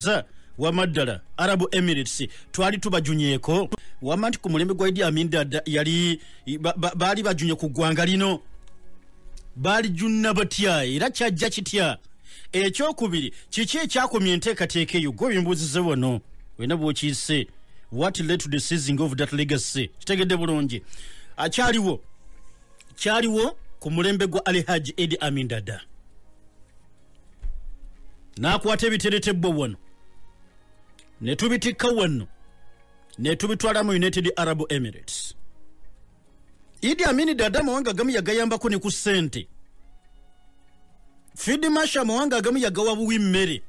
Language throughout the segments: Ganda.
Sir. wama ddala arabu emirates twali tubajunyeko wama nti ku mulembe gwa idi amin dada yali baali bajunye ku ggwanga lino baali junna batya era kyajja kitya ekyokubiri kiki ekyakomya enteekateeka eyo gwe bimbuuzize wano wena bwokiise what led to the seizing of that legacy kitegedde bulungi akyaliwo kyaliwo ku mulembe gwa alihaji edi amin dada n'akwata ebiteretebwa wano ne tubitikka wano ne tubitwala mu united arab emirates idi amini dada amawanga agamu yagayambako ne ku ssente fidi masha amawanga agamu yagawa buwi mmere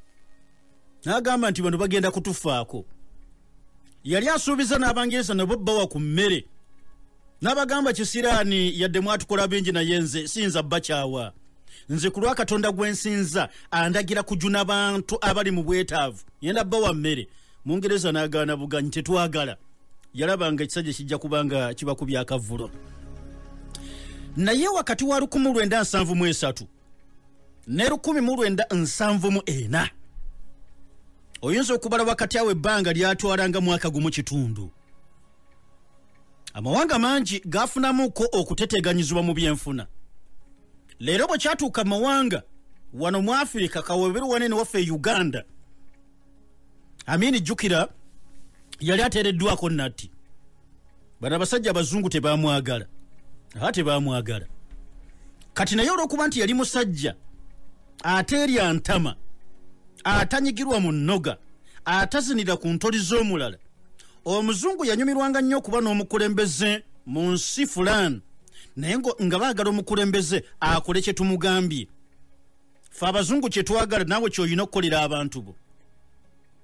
n'agamba nti bano bagenda kutufaako yali asuubiza n'abangereza nabo bawa ku mmere n'abagamba kisiraani yadde mwatukola bingi naye nze siyinza bakyawa nze ku lwa katonda gwe nsinza andagira kujuna bantu abali mu bwetaavu yenda bba wa mmere mungereza n'agaana buganyi tetwagala yalabanga ekisajja kijja kubanga kiba ku byakavulo naye wakati wa lukumu lwenda nsanvu mu esatu ne lukumi mu lwenda nsanvu mu ena oyinza okubala wakati awo ebbanga lyatwalanga mwaka gumu kitundu amawanga mangi gafunamuko okuteteganyizibwa mu byenfuna leero bwe kyatuuka mawanga wano mu afirika kaweberu wanene waffe e uganda amini jjukira yali ateereddwako natti bano abasajja abazungu tebamwagala aa tebamwagala kati naye olwokuba nti yali musajja ateerya ntama atanyigirwa mu nnoga atazinira ku ntoli z'omulala omuzungu yanyumirwanga nnyo okuba n'omukulembeze mu nsi fulaani naye nga baagala omukulembeze akole kye tumugambye fe abazungu kye twagala naawe kyolina okukolera abantu bo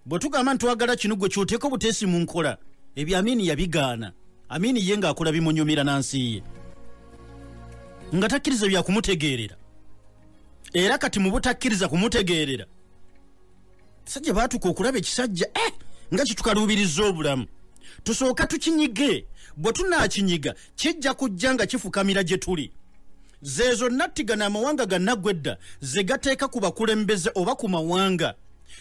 bwe tugamba nti twagala kino gwe kyoteeka obuteesi mu nkola ebyo amiini yabigaana amiini ye ng'akola bimunyumira na nsi ye nga takkiriza bya kumutegeerera era kati mu butakkiriza kumutegeerera sajja baatuka okulaba ekisajja eh! nga kitukaluubiriza obulamu tusooka tukinyige bwe tunaakinyiga kijja kujja nga kifukamira gye tuli zeezo nattiga n'amawanga gannaggwa edda ze gateeka ku bakulembeze oba ku mawanga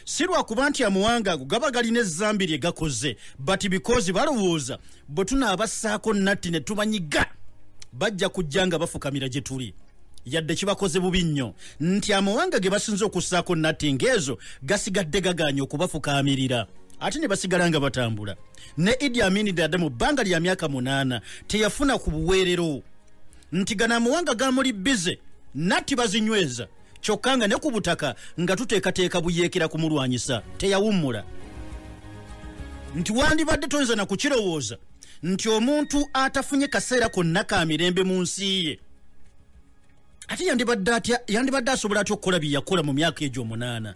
si lwakuba nti amawanga ago gaba galina ezambi lye gakoze but bikozi balowooza bwe tunaabassaako natti ne tubanyiga bajja kujja nga bafukamira gye tuli yadde kibakoze bubi nnyo nti amawanga ge basinze okussaako natti ng'ezo gasigadde gagaanye okubafukaamirira ate ne basigala nga batambula ne idi amini dada mu bbanga lya myaka munaana teyafuna ku buweerero nti gano amawanga gamuli bize natti bazinyweza kyokka nga ne ku butaka nga tuteekateeka buyeekera kumulwanyisa teyawummula nti wandibadde toyinza na kukirowooza nti omuntu atafunye kaseera konna ka mirembe mu nsi ye ate yandibadde atya yandibadde asobola atya okukola bye yakola mu myaka egyo omunaana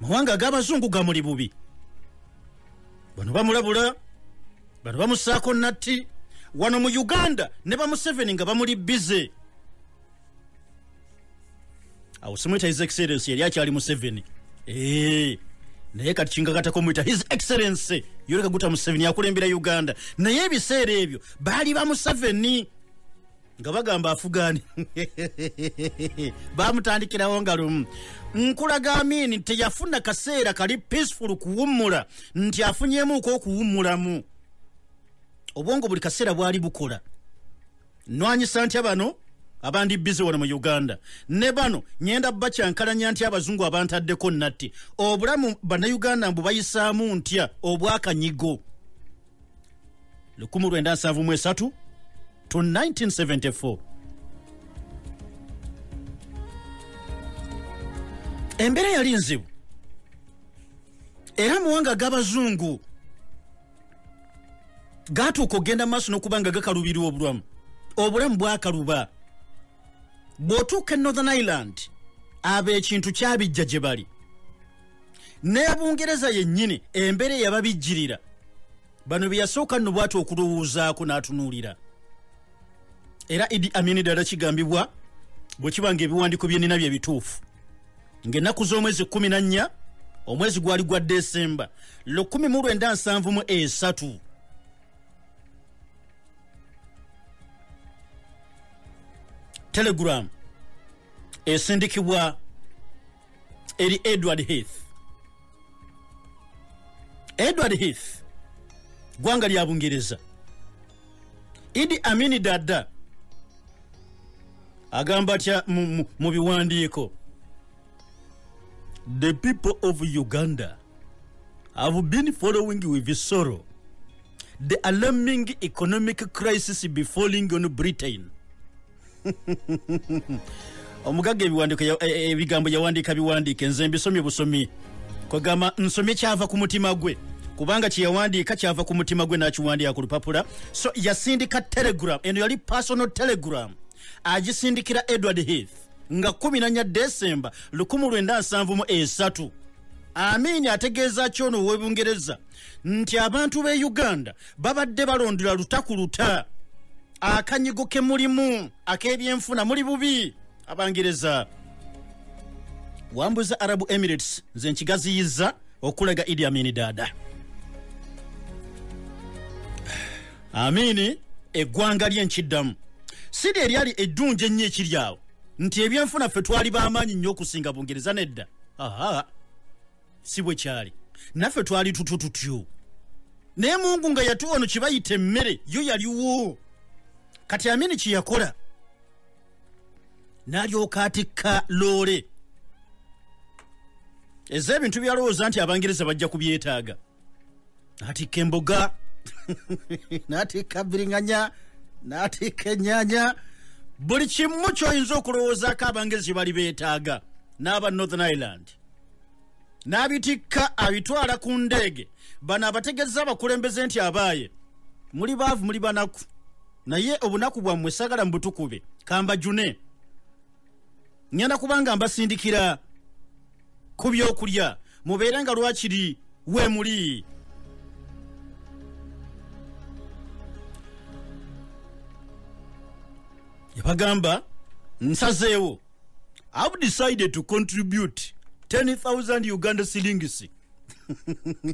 mawanga ag'abazungu gamuli bubi bano bamulabula bano bamusaako natti wano mu uganda ne bamuseveni nga bamuli bize awo simuyita his excellence yali akyali museveni eh, naye kati kinkakatako muyita his excellence yoleka guta museveni yakulembera uganda naye ebiseera ebyo baali ba museveni nga bagamba afugani bamutandikirawo nga lumu nkulaga amini nti yafuna kaseera kali peaceful kuwummula nti afunyemuuko okuwummulamu obwongo buli kaseera bwali bukola nwanyisa ntya bano abandi bize wano mu uganda ne bano nyenda bakyankalanya nti abazungu abantaddeko natti obulamu banauganda mbu bayisaamu ntya obwakanyigo 1973 to 1974 embeera yali nzibu era muwanga g'abazungu gatuuka okugenda maaso nokuba nga gakalubirwa obulamu obulamu bwakaluba bwotuuka e northern island abo ekintu kyabijja gye bali nebungereza yennyini embeera eyababijjirira bano byeyasooka nno bwati okulowoozaako n'atunuulira era idi amini dala kigambibwa bwe kiba nga ebiwandiiko byenina bye bituufu ng'ennaku z'omwezi kkumi na nnya omwezi gwali gwa desemba lukumi mu lwenda nsanvu mu esatu telegram esindikibwa eri edward heath edward heath ggwanga lya bungereza idi amini dada agamba atya mu biwandiiko the people of uganda have been following with sorrow the alarming economic crisis befalling on britain omugagga ebiwandiiko ya- e- e- ebigambo yawandiika biwandiike nze mbisomye busomi kwegamba nsomye kyava ku mutima gwe kubanga kyeyawandiika kyava ku mutima gwe n'akiwandiika ku lupapula so yasindika telegram eno yali personal telegram agisindikira edward heath nga 14 desemba 1973 amiini ategeeza ki ono ow'ebungereza nti abantu b'e uganda babadde balondera luta ku luta akanyigo ke mulimu ak'ebyenfuna muli bubi abangereza wambuza arabu emirates nze nkigaziyiza okulaga idi amini daada amini eggwanga lye nkiddamu sidi eryali eddungi ennyo ekiri awo nti ebyenfuna ffe twali b'amaanyi nnyo okusinga bungereza nedda aha si bwe kyali naffe twali tutyo tutyo naye mungu nga yatuwa no kibayita emmere yo yaliwo kati amini kyeyakola nalyoka atikka loole eza ebintu byalowooza nti abangereza bajja kubyetaaga natikka emboga natikka biringanya natikka enyanya buli kimu kyoyinza okulowoozaako abangereza bali betaaga n'aba northern ireland n'abitikka abitwala ku ndeege bano abategezza abakulembeze nti abaaye muli baavu muli banaku naye obunaku bwammwe sagala mubutukube kambajune ŋenda kubanga mbasindikira ku byokulya mubeere nga lwakiri we muli yabagamba nsazeewo I've decided to contribute 10,000 Uganda shillings.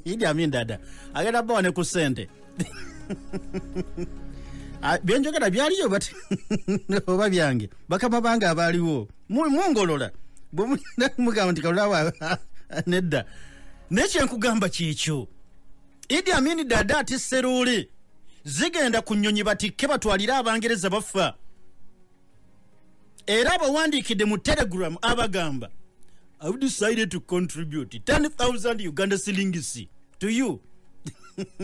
Idi Amin dada. Agenda bawa ne kusente. Ah, byenjogera byaliyo but oba byange bakama bange abaaliwo mungolola bwemugamba nti kalulawa nedda naye kyenkugamba kyekyo idi amini dada ati seruuli zigenda ku nnyonyi batikke batwalire abangereza bafa era abawandiikidde mu telegram abagamba ive decided to contribute 10000 uganda silingisi to you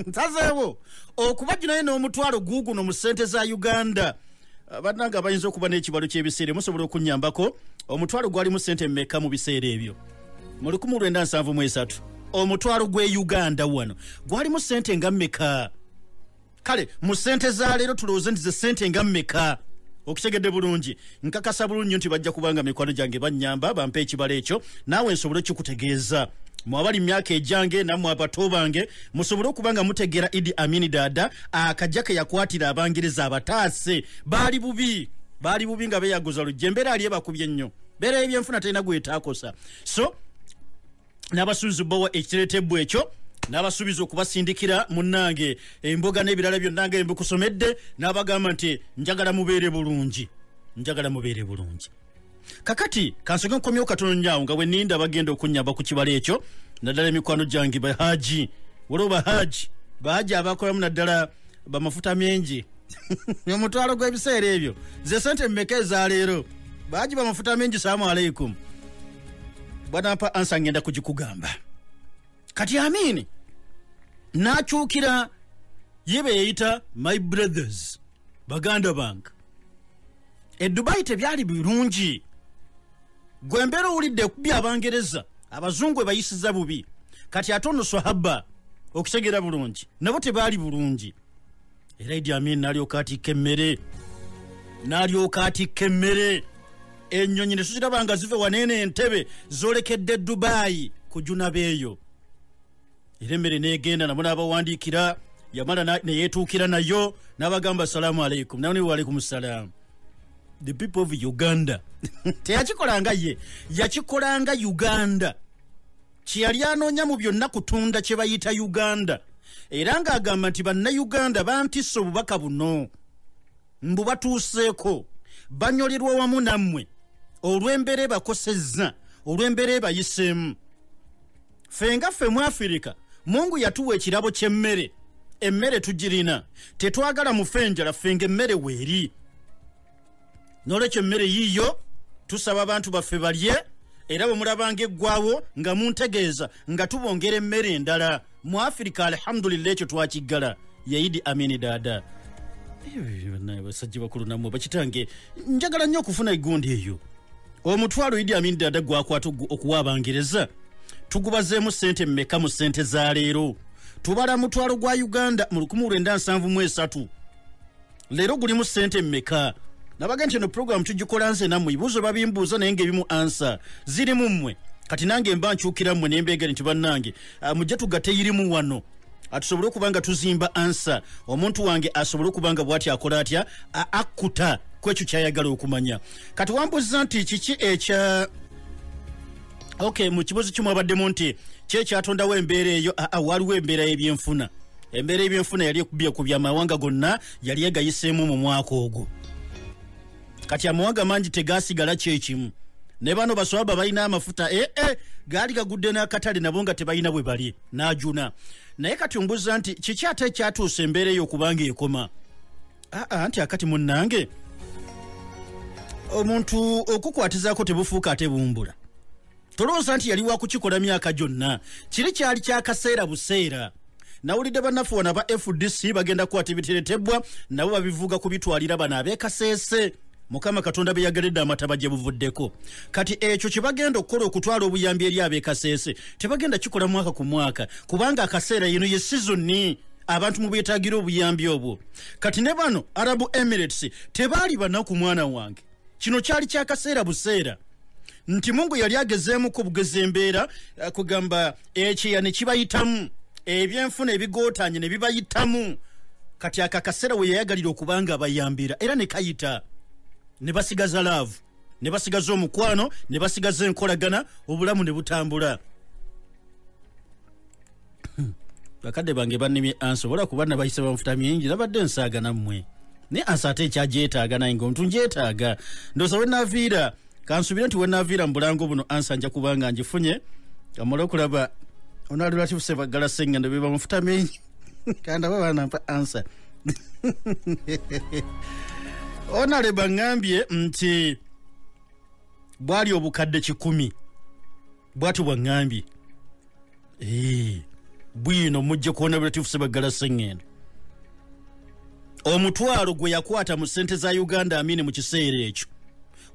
nsazeewo okubajju naye n'omutwalo guuguno mu ssente za uganda ah, bananga bayinza okuba n'ekibalo ky'ebiseera musobola okunyambako omutwalo gwalimu ssente mmeka mu biseera ebyo mu 1973 omutwalo gw'e uganda wano gwalimu ssente nga mmeka kale mu sente za leero tulowooze nti ze sente nga mmeka okitegedde bulungi nkakasa bulungi nyo nti bajja kubanga mikwano gyange bannyamba bampa ekibala ekyo naawe nsobole okukikutegeeza mwe abali mu myaka egyange nammwe abato bange musobole okuba nga mutegeera idi amini daada akajja ke yakwatira abangereza abataase baali bubi baali bubi nga beyaguza lujja embeera ali ebakubye nnyo beera ebyenfuna talina gwetaakosa so n'abasuubiza obbawa ekiteretebwa ekyo n'abasuubiza okubasindikira munnange emboga n'ebirala byonna nga embikusomedde n'abagamba nti njagala mubeere bulungi njagala mubeere bulungi kakati kansoke nkomyewo katono nyawo nga bweninda bagenda okunyamba ku kibala ekyo naddala emikwano gyange bahaji waliwo bahaji bahaji abakolamu naddala bamafuta mengi omutwalo gw'ebiseera ebyo ze sente mumeka ezaleero bahaji bamafuta mengi salaamu aleikum bwanampa ansa ngenda kugikugamba kati amiini nakyukira ye beyeyita my brothers baganda bange edubayi tebyali birungi gwe mbeera owulidde kubi abangereza abazungu ebayisiza bubi kati ate ono swahaba okutegera bulungi nabo tebaali bulungi era idi amin nalyoka atikka emmere nalyoka atikka emmere enyonyi netuziraba nga zive waneene entebe zolekedde dubayi kujunabeeyo era emmere negenda nabo nabawandiikira yamala neyetuukira nayo nabagamba salaamu aleikum nawe niwaalaikum salaamu the people of uganda teyakikolanga ye yakikolanga uganda kyeyali anoonya mu byonna kutunda kye bayita uganda era ng'agamba nti bannayuganda bantisse obubaka buno mbu batuuseeko banyolerwa wamu nammwe olw'embeera ebakosezza olw'embeera ebayiseemu ffe nga ffe mu afirika mungu yatuwa ekirabo ky'emmere emmere tugirina tetwagala mufe enjala ffe nga emmere weeri nolwekyo emmere yiiyo tusaba abantu baffe balye era bwe mulabanga eggwawo nga muntegeeza nga tubongera emmere endala mu afirika alhamdulillah ekyo twakiggala yaidi amini daada basajja bakulu namwe bakitange njagala nnyo okufuna egundi eyo omutwalo idi amini daada gwakwata okuwa abangereza tugubazeemu sente mmeka mu sente za leero tubala mutwalo gwa uganda mu 1973 leero gulimu ssente mmeka nabaga nti eno puroguramu tugikola nze nammwe ebibuuzo babimbuuza naye ngaebimu ansa ziri mu mmwe kati nange mba nkyukira mmwe nembeegere nti bannange ah, mujja tugate yirimu wano atusobole okuba nga tuzimba ansa omuntu wange asobole okuba nga bwati akola atya akkuta kwekyo kyayagala okumanya kati wambuza nti kiki ekya ok mu kibuuzo kimu abaddemu nti kyekyatondawo embeera eyo aa ah, ah, waliwo embeera y'ebyenfuna embeera y'ebyenfuna yali ekubye ku byamawanga gonna yali egayiseemu mu mwaka ogwo kati amawanga mangi tegasigala kyekimu ne bano baswaba balina amafuta ee eh, eh, gaali gagudde n'akatale nabo nga tebalina bwe bali n'ajuna naye kati ombuza nti kiki ate ekyatuusa embeera eyo kubanga ekoma aa ah, ah, nti akati munnange omuntu okukwatizaako tebufuuka ate bumbula tolowooza nti yali wakukikola myaka gyonna kiri kyali kyakaseera buseera nawulidde bannaffe wano aba fdc bagenda kukwata ebiteretebwa nabo babivuga kubitwalira bano abekaseese mukama katonda beyageredde amataba gye buvuddeko kati ekyo kye bagenda okukola okutwala obuyambi eri abekaseese tebagenda kikola mwaka ku mwaka kubanga akaseera yino ye sizoni abantu mubetagira obuyambi obwo kati ne bano arabu emirates tebaali banaku mwana wange kino kyali kyakaseera buseera nti mungu yali agezeemu ku bugezi embeera eh, kugamba ekyeya ne kibayitamu ebyenfuna ebigootanye ne bibayitamu kati ako akaseera we yayagalira okubanga abayambira era ne kayita ne basigaza laavu ne basigaza omukwano ne basigaza enkolagana obulamu ne butambula bakadde bange bannemye ansi obola kuba nabayise bamufuta mingi nabadde nsaaga nammwe naye ansi ate ekyagyetaaga naye nga omuntu ngyetaaga ndoza wenaviira kansubire nti wenaviira mu bulango buno ansi anja kuba nga ngifunye kamala okulaba onalulatifuse baggala sengendo be bamufuta mingi kandaba banampa ansi onale baŋambye nti bwali obukadde kikumi bwati bwaŋŋambye eh, bwino mujje kuwona bulatifu sebaggala seŋŋendo omutwalo gwe yakwata mu ssente za uganda amini mu kiseera ekyo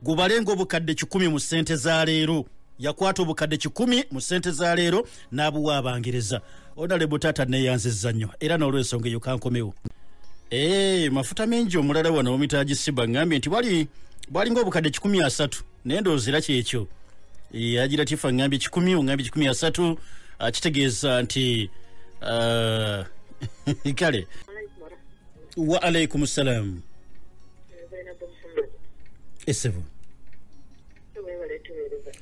gubalenga obukadde kikumi mu ssente za leero yakwata obukadde kikumi mu ssente za leero n'abuwa abangereza onalebo taata neeyanziza nnyo era n'olwensonga eyo kankomewo ee eh, mafuta mengi omulala wano omitagisiba ngambye nti bwalinga obukadde kikumi asatu naye ndowooza era kyekyo eh, agira tifa ngambye kikumi ongambye kikumi asatu ah, kitegeeza nti ah, kale wa alaikum salam esebo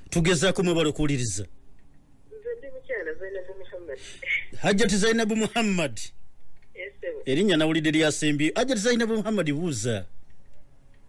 tugezaako mwebala okuwuliriza hajjati zainabu muhammad erinnya nawulidde lyasembi hajjati zainabu muhammad buuza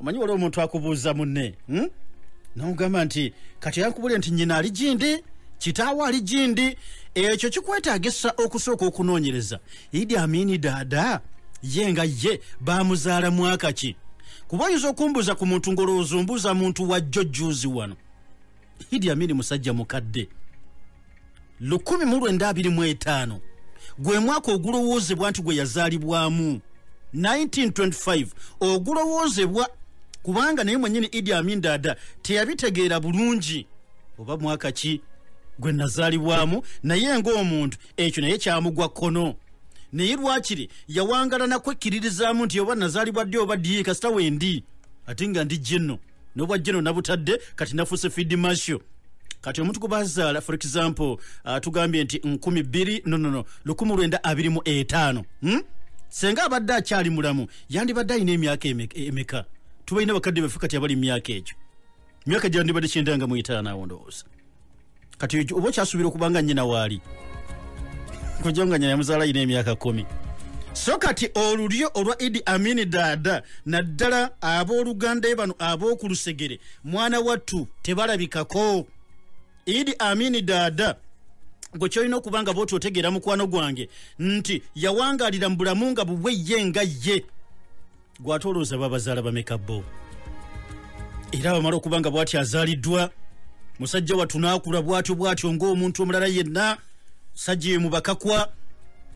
omanyi waliwo omuntu akubuuza munne hmm? nomugamba nti kati yankubulire nti nyina ali gindi kitaawo ali gindi ekyo kikwetagisa okusooka okunoonyereza idi amini daada ye nga ye bamuzaala mwaka ki kuba oyinza okumbuuza ku muntu ng'olowooza ombuuza muntu wajjo juuzi wano idi amini musajja mukadde lukumi mu lwenda abiri mu etaano gwe mwaka ogulowoozebwa nti gwe yazaalibwamu 1925 ogulowoozebwa kubanga naye mwenyini idi amin dada teyabitegeera bulungi oba mwaka ki gwe nazaalibwamu naye ng'omuntu ekyo naye kyamugwa kkono naye lwakiri yawangala nakwekkiririzaamu nti oba nazaalibwa ddi oba ddi kasita wendi ate nga ndi jinno nobwajja no nabutadde kati nafuuse fidi masho kati omuntu gwebazaala for example uh, tugambye nti nkumi bbiri nonono lukumu lwenda abiri mu etaano hmm? senga abadde akyali mulamu yandibadde alina emyaka emeka tubalina bakadde baffe kati abali mu myaka egyo myaka gyandibadde kyendanga mu etaano awo ndowooza kati oba okyasuubira okuba nga nnyina waali kujja nga nyina yamuzaala yina emyaka kumi so kati olulyo olwa idi amini daada naddala abooluganda e bano ab'okulusegere mwana wattu tebalabikako idi amini daada gwe kyolina okuba nga bwoti otegeera mukwano gwange nti yawangaalira mu bulamu nga bubwe ye nga ye gwate olowooza babazaala bameka bo era bamala okuba nga bwati azaaliddwa musajja wattu naakula bwatyo bwatyo ng'omuntu omulala yenna sajja emu bakakwa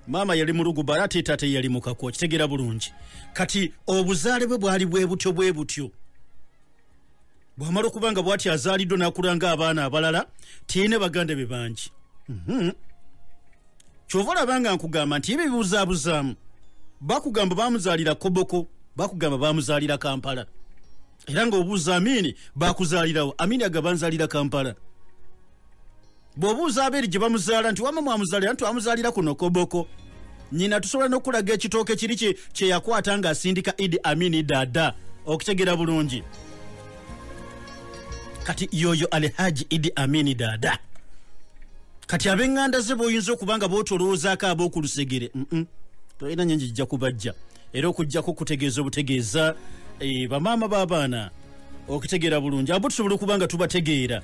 maama yali muluguba ate taata yali mukakwa okitegeera bulungi kati obuzaale bwe bwali bwe butyo bwe butyo bwamala okuba nga bwati azaaliddwa nakulanga abaana abalala tiyine baganda be bangi mhm. kyova olabanga nkugamba nti ebyo bibuzaabuzaamu bakugamba bamuzaalira koboko bakugamba bamuzaalira kampala era nga obuuza amiini bakuzaalirawo amiini agabanzaalira kampala bw'obuuza abeeri gye bamuzaala nti wama mwamuzaalira nti twamuzaalira kuno koboko nyina tusobola n'okulaga ekitooke kiri kye yakwata ng'asindika idi amini dada okutegera bulungi kati yoyo alihaji idi amini dada kati abenganda ze boyinza okuba nga botolowoozaako ab'okulusegere tolina nyo njijja kubajja era okujjako okutegeeza obutegeeza eh, bamaama b'abaana okitegeera bulungi abo tusobola okuba nga tubategeera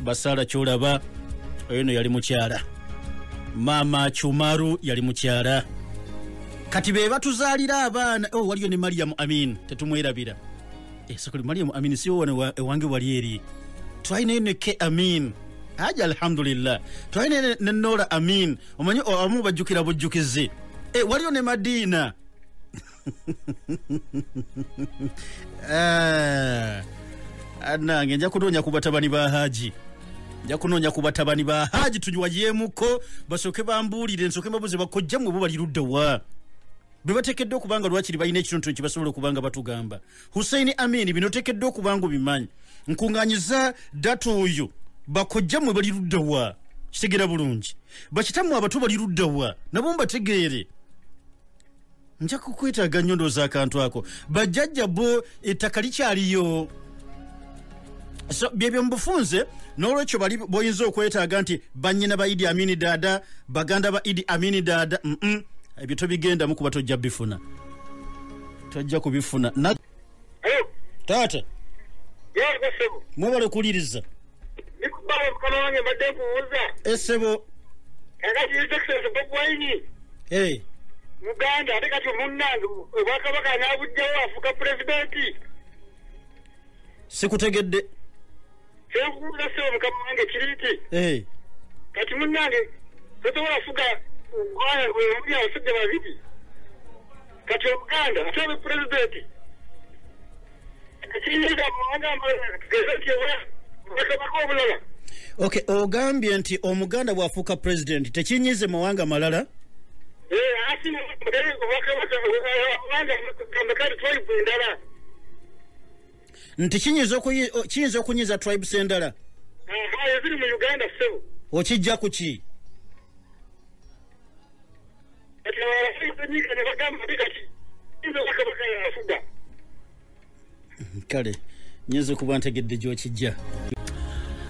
basaala kyolaba oyo no yali mukyala maama cumaru yali mukyala kati be batuzaalira abaana oh, waliyo ne mariyamu amin tetumwerabira esakuli eh, mariyamu amin siwowana ewange wali eri twalinayo ne ke amin aji alhamdulillah twalina ne nola amin omanyi abamu bajjukira bujjukizi e, waliyo ne madiina Eh, nange nja kunoonya ku batabani ba haji nja kunoonya ku batabani ba haji tunywayemuko basooke bambuulire nsooke mbabuze bakojja mwe bo bali ludda wa bwe bateekeddwa okuba nga lwakiri balina ekintu kye basobola okuba nga batugamba hussein amin bino oteekeddwa okuba nga obimanyi nkuŋŋanyiza data oyo bakojja mwe bali ludda wa kitegera bulungi bakitamu abato bali ludda wa nabo mbategeere nja kukwetaaga nnyo ndooza akantu ako bajjajja bo ettaka likyaliyo so byebyo mubufunze n'olwekyo bali boyinza okwetaaga nti bannyina ba idi amini daada baganda ba idi amini daada ebyo tobigendamu kuba tojja bifuna tojja kubifuna Hello. taata Yee gwe ssebo. mwebale kuwuliriza Nikubawe mukama wange mbadde nkubuuza. esebo Kakati His Excellency Bob Wine. hey. Muganda ate kati munnange obwakabaka anaabujjawo afuuka pulezidenti. sikutegedde Kyenkubuuza ssebo mukama wange kiri nti hey. kati munnange tosobola kufuga ggwanga ng'oli abasajja babiri. kati obuganda musabe pulezidenti ok ogambye nti omuganda bwafuuka pulezidenti tekinyize mawanga malala nti kiyinza okunyiza tribes endala okijja ku ki kale nyinza okuba ntegedde gyokijja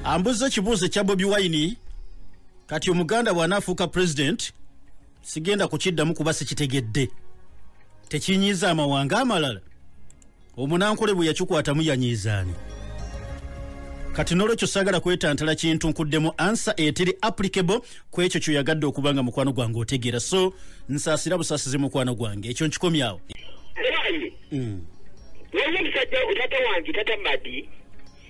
ambuza ekibuuzo ekya bobi wine kati omuganda bw'anaafuuka pulezidenti sigenda kukiddamu kuba sikitegedde tekinyiiza amawanga amalala omunankole bwe yakikwatamu yanyiizaani kati nolwekyo sagala kwetantala kintu nkuddemu ansa eteri applicable ku ekyo kyoyagadde okuba nga mukwano gwange otegeera so nsasira busasizi mukwano gwange ekyo nkikomyawo mm.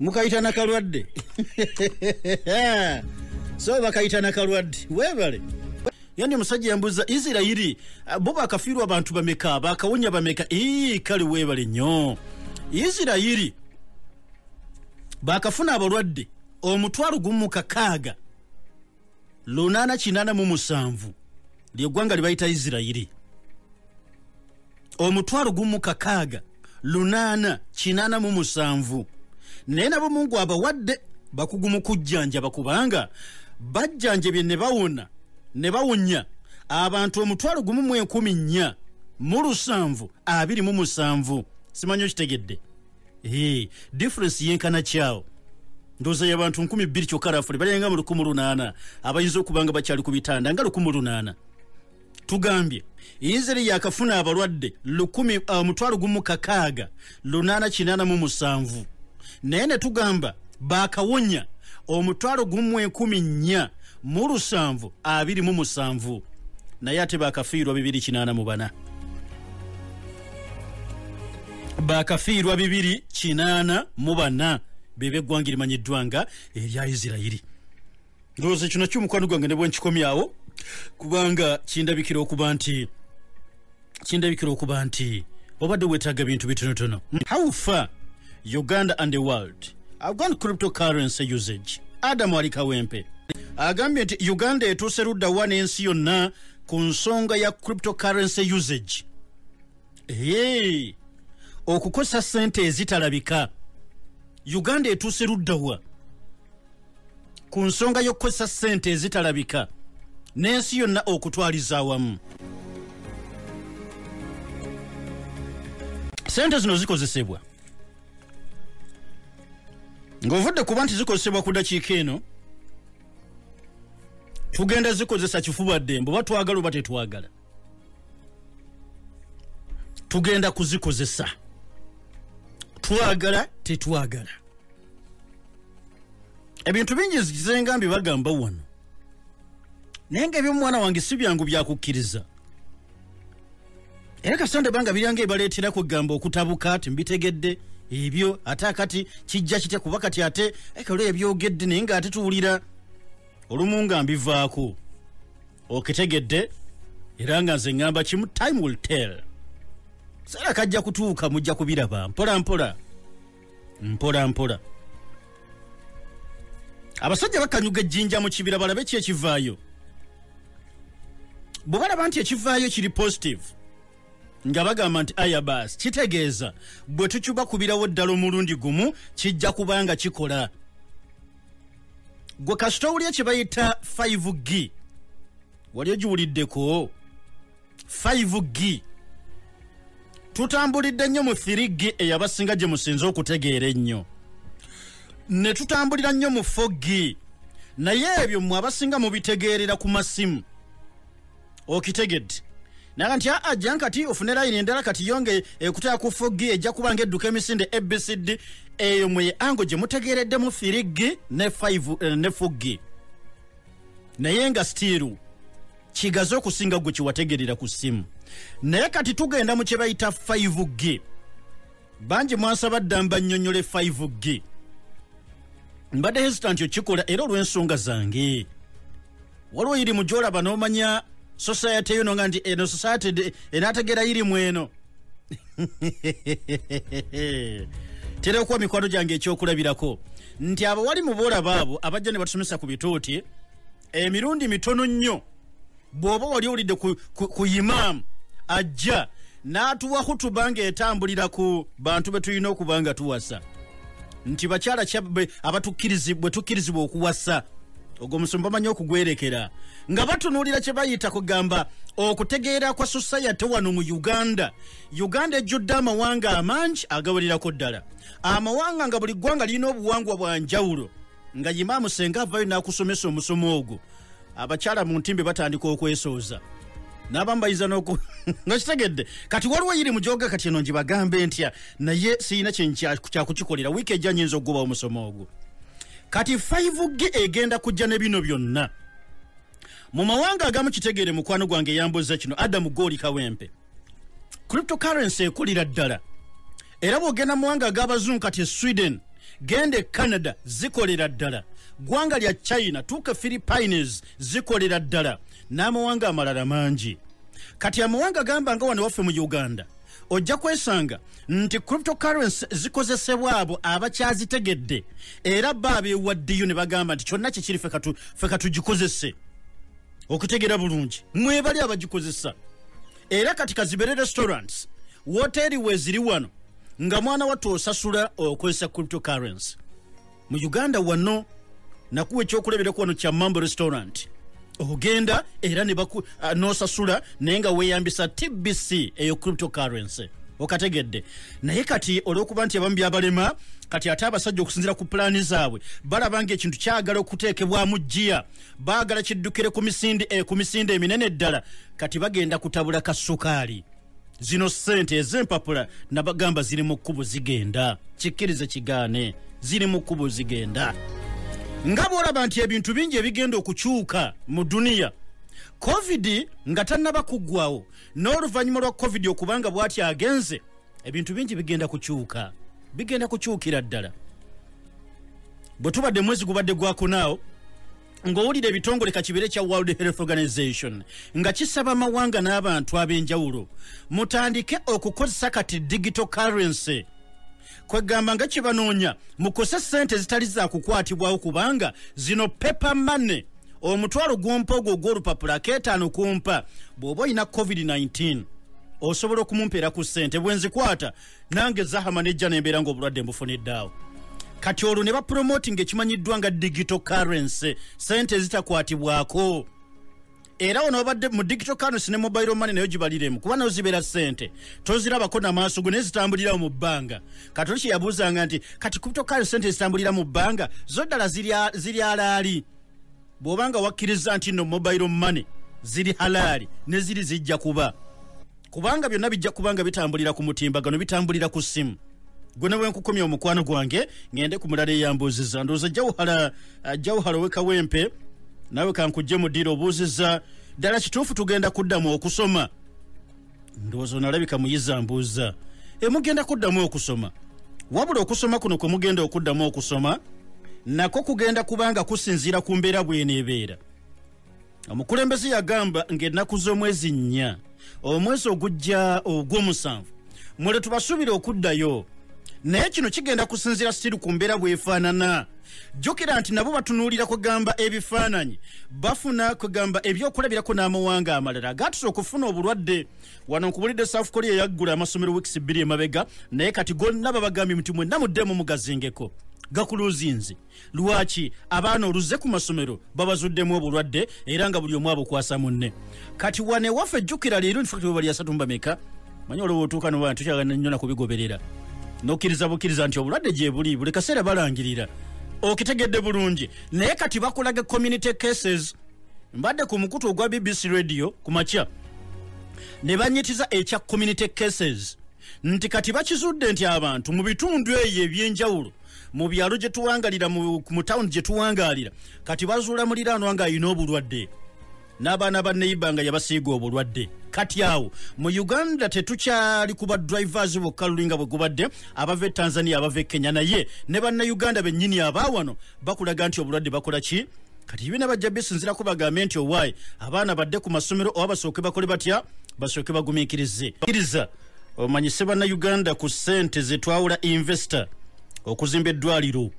mukayita nakalwadde so bakayita nakalwadde webale yani omusajja yambuza isirairi ah, bo bakafiirwa abantu bameka bakawonya bameka ii kale webale nnyo isirairi bakafuna abalwadde omutwalo gumu mukakaaga lunaana kinaana mu musanvu lyeggwanga lye bayita isirayiri omutwalo gumu kakaaga lunaana kinaana mu musanvu naye nabo mungu abawadde bakugu mu kujjanjaba kubanga bajjanjabye ne bawona ne bawunya abantu omutwalo gumu mu enkumi nnya mu lusanvu abiri mu musanvu simanyi okitegedde Hii, difference yenkana kyao ndoza yabantu nkumi bbiri kyokka rafuli balinga mu lukumu lunaana abayinza okuba nga bakyali ku bitanda nga lukumu lunaana tugambye yinzeri yakafuna abalwadde lukumi uh, mutwalo gumu kakaaga lunaana kinaana mu musanvu naye ne tugamba bakawonya omutwalo gumu enkumi nnya mu lusanvu abiri mu musanvu naye ate bakafiirwa bibiri kinaana mu bana bakafiirwa bibiri kinaana mu bana bebe eggwanga erimanyiddwa nga erya isirairi ndowooza ekyo nakyo omukwano gwange ne bwenkikomyawo kubanga kindabikira okuba nti kindabikira okuba nti obadde wetaaga bintu bitonotono how far uganda and the world have gone cryptocurrency usage adamu ali kawempe agambye nti uganda etuuse luddawa n'ensi yonna ku nsonga ya cryptocurrency usage ee okukozesa sente ezitalabika uganda etuuse luddawa ku nsonga y'okukozesa sente ezitalabika n'ensi yonna okutwaliza awamu sente zino zikozesebwa ng'ovudde kuba nti zikozesebwa ku dakiika eno tugenda zikozesa kifuba ddembe oba twagala oba tetwagala tugenda kuzikozesa twagala tetwagala ebintu bingi zizenga mbi bagamba wano naye nga ebyomwana wange si byangu byakukkiriza era kasanda banga biranga ebaleetera kwegamba okutabuka ti mbitegedde ebyo ate akati kijja kitya kuba kati ate ekalo ebyogedde naye nga ate tuwulira olumu nga mbivaako okitegedde era nga nze ŋŋamba kimu time will tell seera kajja kutuuka mujja kubiraba mpola mpola mpola mpola abasajja bakanyuga ejjinja mu kibira balabe ki ekivaayo bwe balaba nti ekivaayo kiri positive nga bagamba nti aya baasi kitegeeza bwe tucuba kubirawo ddala omulundi gumu kijja kuba nga kikola gwe kasita owulya kye bayita 5 g wali ogiwuliddeko 5 g tutambulidde nnyo mu 3 g eyabasinga gye musinze okutegeera ennyo ne tutambulira nnyo mu 4 g naye ebyo mmwe abasinga mubitegeerera ku masimu okitegedde naga nti aa ajja nkati ofune layini endala kati yonge ekutaya ku 4 g ejja kuba nga edduka emisinde abcd eyo mwe ango gye mutegeereddemu 3 g ne 5 eh, ne 4 g naye nga stiiru kigaze okusinga gwe kyewategerera ku ssimu naye kati tugenda mu kyebayita 5 g bangi mwansaba dda mbanyonyole 5 g mbadde hesitant okikola era olw'ensonga zange waliwo yiri mu gyolaba n'omanya society yono nga nti eno society enategera yiri mu eno tera okuwa mikwano gyange ekyokulabirako nti abawali mu boolaba abo abajja ne batusomesa ku bituuti emirundi mitono nnyo bw'oba wali owulidde ku, ku, ku imaamu ajja n'atuwa hutuba ng'etambulira ku bantu be tulina okuba nga tuwasa nti bakyala bwe tukkirizibwa okuwasa ogwo musumba amanyi okugwerekera nga batunuulira kye bayita kugamba okutegeera kwa sosayate wano mu uganda uganda ejjudde amawanga amangi agawererako ddala amawanga nga buli ggwanga lirina obuwangwa bwa njawulo nga yimaamu senga avayo n'akusomesa omusomo ogwo abakyala mu ntimbe batandika okwesooza n'abamu bayinza noku nga kitegedde kati waliwo yiri mujoga kati eno ngibagambe ntya naye sirina kyenkyakukikolera wiiki ejja nyinza okugoba omusomo ogwo kati 5 ge egenda kujja ne bino byonna mu mawanga agamu kitegeere mukwano gwange eyambuza kino adamu gooli kawempe cryptocurrency ekulira ddala era bwogenda muwanga ag'abazungu kati e sweden genda e canada zikolera ddala ggwanga lya china tuuka philippines zikolera ddala n'amawanga amalala mangi kati amawanga gamba nga wano waffe mu uganda ojja kwesanga nti cryptocurrency zikozesebwa abo abakyazitegedde era ba bewaddiyo ne bagamba nti kyonna kyekiri fe katugikozese okutegera bulungi mwebali abagikozesa era kati kazibere restaurants woteeri weziri wano nga mwana wattu osasula okozesa cryptocurrency mu uganda wano nakuwa ekyokulabiraku wano kya mambo restaurant ogenda era nosasula naye nga weyambisa tbc eyo cryptocurrency okategedde naye kati olwokuba nti abamu byabalema kati ate abasajja okusinzira ku pulaani zaabwe balabanga ekintu kyagala okuteekebwamu jjiya baagala kiddukire ku misinde eh, ku misinde eminene ddala kati bagenda kutabula ka sukaali zino ssente ez'empapula nabagamba ziri mu kkubo zigenda kikkirize kigaane ziri mu kkubo zigenda nga bw'olaba nti ebintu bingi ebigenda okukyuka mu duniya covid nga tannaba kuggwawo n'oluvannyuma lwa covid okubanga bw'ati agenze ebintu bingi bigenda kukyuka bigenda kukyukira ddala bwe tubadde mwezi gubadde gwakunaawo ng'owulira ebitongole kakibeere kya world health organization nga kisaba amawanga n'abantu ab'enjawulo mutandike okukozesa kati digital currency kwegamba nga kyebanoonya mukose sente ezitali zakukwatibwawo kubanga zino paper money omutwalo gwompa ogwo ogwolupapula aketaano kumpa bw'oba olina covid-19 osobola okumumpeera ku sente bwenzikwata nange zahama nejja nembeera ngaobulwadde mbufuniddeawo kati olwo ne bapromoting ekimanyiddwa nga digital currency sente ezitakwatibwako era ono obadde mu digital currency ne mobile money nayo gibaliremu kuba nayo zibeera sente tozirabako namaaso go naye zitambulirawo mu bbanga kati oli kyeyabuuzanga nti kati crypto currency sente ezitambulira mu bbanga zo ddala ziryalaali zirya bw'oba nga wakkirizza nti no mobile money ziri halaali ne ziri zijja kuba kubanga byonna bijja kuba nga bitambulira ku mutimbagano bitambulira ku ssimu gwe nawe nkukomya omukwano gwange ngende ku mulala eyambuuziza ndowooza jawuhala uh, jawuhala owekawempe nawe kankujje mu ddiiro obuuziza ddala kituufu tugenda kuddamu okusoma ndowooza onalabika muyiza mbuuza emugenda kuddamu okusoma wabula okusoma kuno kwe mugenda okuddamu okusoma nako kugenda kubanga kusinziira ku mbeera bweneebeera omukulembeze yagamba ng'ennaku z'omwezi nnya omwezi ogujja ogw'omusanvu mule tubasuubire okuddayo naye kino kigenda kusinziira siri ku mbeera bwefaanana jjukira nti nabo batunuulira kugamba ebifaananyi bafuna kugamba ebyokulabirako n'amawanga amalala gaatusa okufuna obulwadde wano nkubulidde south korea yaggula amasomero wiikisi bbiri emabega naye kati gonna babagambye nti mwenna muddemu mugazingeko gakuluzinzi lwaki abaana oluze ku masomero babazuddemu obulwadde era nga buli omu abukwasa munne kati wanewaffe jjukira leero nti fakti webalyasatumbameka manyi olwo wotuuka noba tukyagana nnyo nakubigoberera nokkiriza bukkiriza nti obulwadde gyebuli buli kaseera balangirira okitegedde bulungi naye kati bakulaga community cases mbadde ku mukutu ogwa bbc radio ku makya ne banyitiza ekya community cases nti kati bakizudde nti abantu mu bitundu eyo ebyenjawulo mu byalo gye tuwangalira mu tawuni gye tuwangalira kati bazuula muliraanwa ng'alina obulwadde n'abaana ba neyiba nga yabasiiga obulwadde kati awo mu uganda tetukyali kuba drivers bokka lulinga bwe gubadde abava e tanzania abava e kenya naye ne bannauganda bennyini abaawano bakulaga nti obulwadde bakola ki kati ibina bajja bisinzirako bagambe nti owaayi abaana badde ku masomero oba basooke bakole batya basooke bagumiikirize iriza omanyise bannauganda ku ssente zetwawula investor okuzimba eddwaliro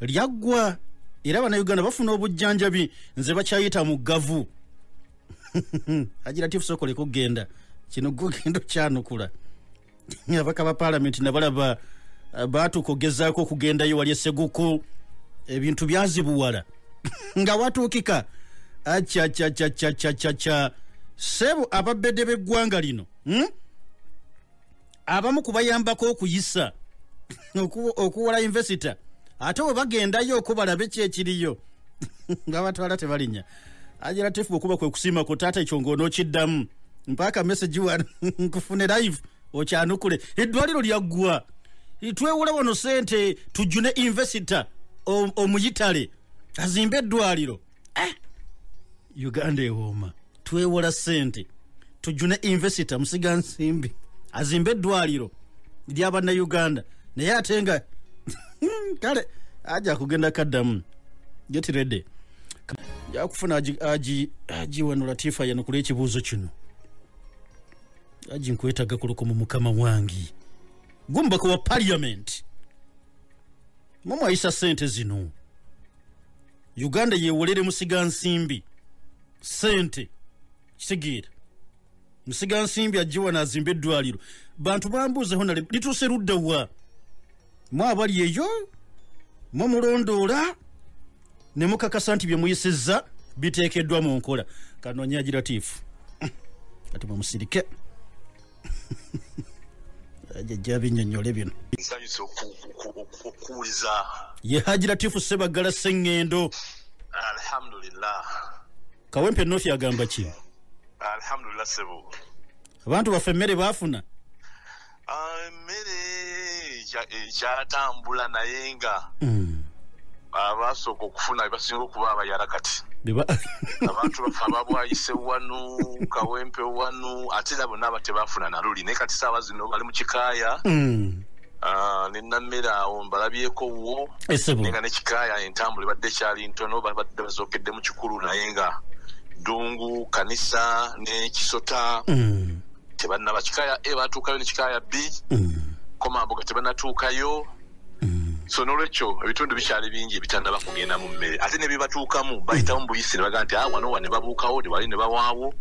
lyaggwa era bannauganda bafuna obujjanjabi nze bakyayita mu gavu agira tifusokoleko kugenda kino gugenda okyanukula abaka ba palamenti nabalaba eh, baatuuka okugezaako okugendayo wali eseguku ebintu byazibuwala nga watuukika acacacacacacaca sebu ababede b'eggwanga lino hmm? abamu kubayambako okuyisa okuwola invesita ate we bagendayo oku balabe ki ekiriyo babatwala tebalinya ajiratifu bwekuba kwe kusiima ku taata ekyo ngaonookiddamu mpaaka mesagi wano nkufune live okyanukule eddwaliro lyaggwa twewola wano sente tujune invesita omuyitale azimbe eddwaliro eh. uganda ewooma twewola sente tujune invesita musiga nsimbi azimba eddwaliro lyabanna uganda naye ate nga kale aja kugenda kaddamu get ready jakufuna agiwano latifa yanukula ekibuuzo kino aji nkwetaga kuluko mu mukama wangi gumbaka wa parliament mumwayisa sente zino uganda yewolere musiga nsimbi sente kitegeera musiga nsimbi ajjiwa nazimba eddwaliro bantu bambuuzeho nale lituuse ludda wa mu abali eyo mu mulondoola ne mukakasa nti byemuyisizza biteekeddwa mu nkola kanonya giratiifu kati mwemusirike jajja binyonyole bino nsanyuse okuwuliza ye haji latifu sebaggala seŋŋendo alhamdulillah kawempe nofi agamba ki alhamdulillah sebo abantu baffe emmere baafuna ah, emmere ekyatambula naye nga mm. abasooka okufuna bebasinga okuba abayala kati abantu bafe ababwayise wanu kawempe wanu ate era bonna aba tebafuna naluli naye kati saawa zino bali mu kikaaya mm. Ah, nenamera awo mbalabyeko wo naye nga nekikaaya entambula ebadde ekyali ntono babadde bazookedde mu kikulu naye nga ddungu kanisa nekisota mm. tebannaba kika ya a batuukayo ne kika ya b mm. komambuga tebannatuukayo mm. so nolwekyo ebitundu bikyali bingi ebitannaba kugenda mu mmere ate nebibatuukamu bayitamu mm. buyisi ne baga nti ah, wano wa ne babuukawo newali ne bawaawo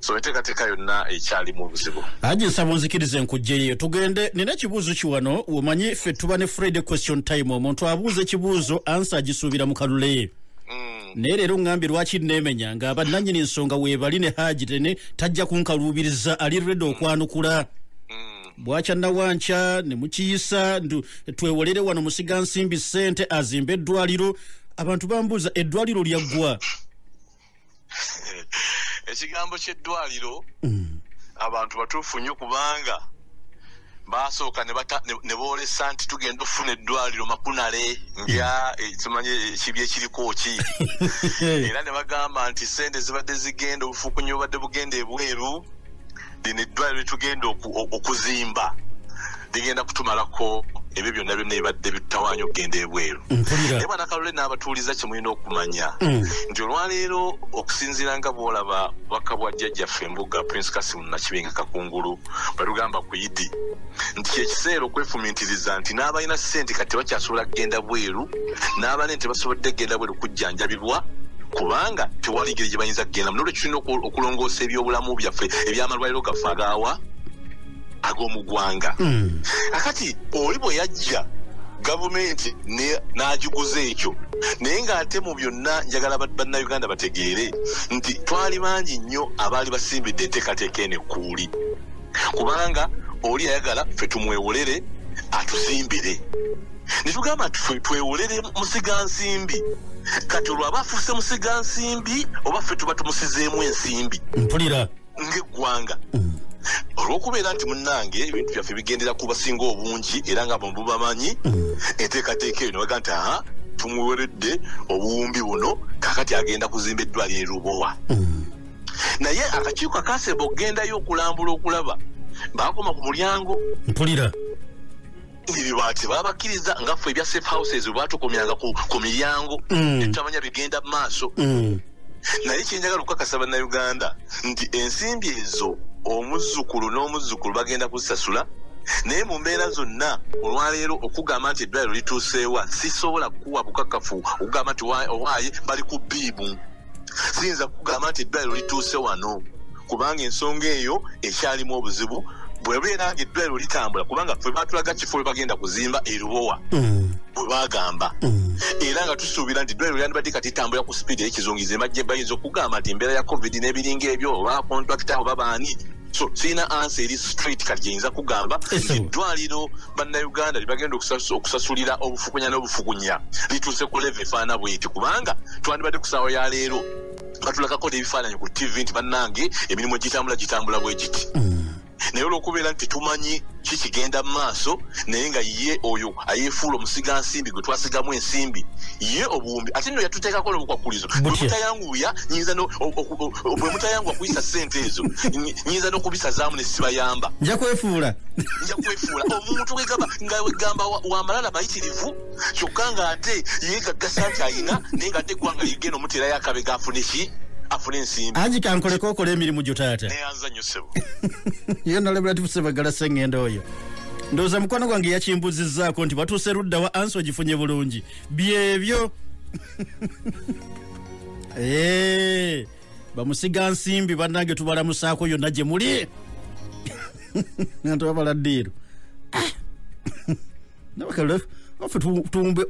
so enteekateeka yonna ekyalimu obuzibu aji nsaba onzikiriza enkugjeyo tugende nina ekibuuzo kiwano womanyi ffe tuba ne friday question time omuntu abuuza ekibuuzo ansa agisuubira mu kalule mm. naye leero ŋŋambye lwaki nneemenya nga bannannyini nsonga weebali ne haaji tene tajja kunkaluubiriza ali redi okwanukula bwakya nawankya ne mukiyisa ndu twewolere wano musiga nsimbi ssente azimba eddwaliro abantu bambuuza eddwaliro lyaggwa ekigambo ky'eddwaliro mm. abantu batuufu nnyo kubanga baasooka ne boolesa nti tugenda okufuna eddwaliro makunale nga ekimanyi eh, ekibi ekiriko ki era ne bagamba nti sente zibadde zigenda obufukunya obubadde bugenda ebweru lino eddwaliro litugenda okuzimba ligenda kutumalako ebyo byonna byonna ebadde bitawanya okugenda ebweru naye bwana kalule n'abatuuliza kye mulina okumanya mm. nti olwaleero okusinziira nga bwolaba baka bwa jjajjaffe embuga prince kasimu nakibenga kakungulu balugamba ku idi nti kyekiseera okwefumiitiriza nti n'abalina ssente kati tebakyasobola kugenda bweru n'abanene tebasobodde kugenda bweru kujjanjabibwa kubanga tewali ngeri gye bayinza kugenda mu nolwekyo tulina okulongoosa ebyobulamu byaffe ebyamalwaliro gaffe agaawa ag'omu ggwanga hmm. akati oli bwe yajja gavumenti n'agiguza ekyo naye ng'ate mu byonna njagala bannayuganda bategeere nti twali bangi nnyo abaali basimbidde enteekateeka eno ekkuu buli kubanga oli ayagala ffe tumwewolere atuzimbire netugamba nti ffe twewolere musiga nsimbi kati olwo aba afuuse musiga nsimbi oba ffe tuba tumusizeemu ensimbi mpulira ng'eggwanga mm. olwokubeera nti munange ebintu byaffe bigendera ku basinga obungi era nga mububamanyi mm. enteekateeka eyo nebaga nti aha tumuweredde obuwumbi buno kakati agenda kuzimba eddwaliro erubowa mm. naye akakiiko akasemba okugendayo okulambula okulaba bakoma ku mulyango mpulira ebibaati babakkiriza nga ffe ebya safe houses webatukomyanga ku miryango mm. etutamanya bigenda mu maaso mm. naye kyenjagala okukakasa bannauganda nti ensimbi ezo omuzzukulu n'omuzzukulu bagenda kuzisasula naye mu mbeera zonna olwaleero okugamba nti eddwaliro lituuseewa sisobola kukuwa bukakafu okugamba nti owaaye bali ku biibu siyinza kugamba nti eddwaliro lituuse wano kubanga ensonga eyo ekyalimu obuzibu bwebeera nga eddwaliro litambula kubanga fe batulaga kifo we bagenda kuzimba erubowa mm. bwe bagamba mm. era nga tusuubira nti eddwaliro lyandibadde kati tambula ku sipiidi eyekizungize majje bayinza okugamba nti embeera ya covid n'ebiringa ebyo oba kontrakita oba baani so sirina ansa eri street kati gyeyinza kugamba eddwaliro bannayuganda lyebagenda okusasulira obufukunya n'obufukunya lituuse ku leve efaana bweti kubanga twandibadde kusaawa ya leero batulakako n'ebifaananyi ku tv nti bannange emirimu gitambula gitambula bwe giti mm. naye olwokubeera nti tumanyi kikigenda mu maaso naye nga ye oyo ayefuula omusiga nsimbi gwe twasigamu ensimbi ye obuwumbi ate no yatuteekako nobukwakkulizo bwemutayanguya nyinza bwemutayanguwa kuyisa sente ezo nyinza nokubisazaamu nesibayamba nja kwefuula nja kwefuula omuntu wegamba nga wegamba wamalala mayitirivu kyokka nga ate yegaggasa nti ayina naye nga ate eggwanga ligenda omuteerayo akabega afune ki afuna ensimbi angi kankoleko okola emirimu gyo taata neyanza nyo sebo yonalabulatifu sebagala sengendo oyo ndowooza mukwano gwange yakimbuzizzaako nti batuuse ludda wa ansi ogifunye bulungi byebyo eh, bamusiga nsimbi bannange tubalamusaako yonna gye muli nga tubabala ddiiro ah! nabakalfe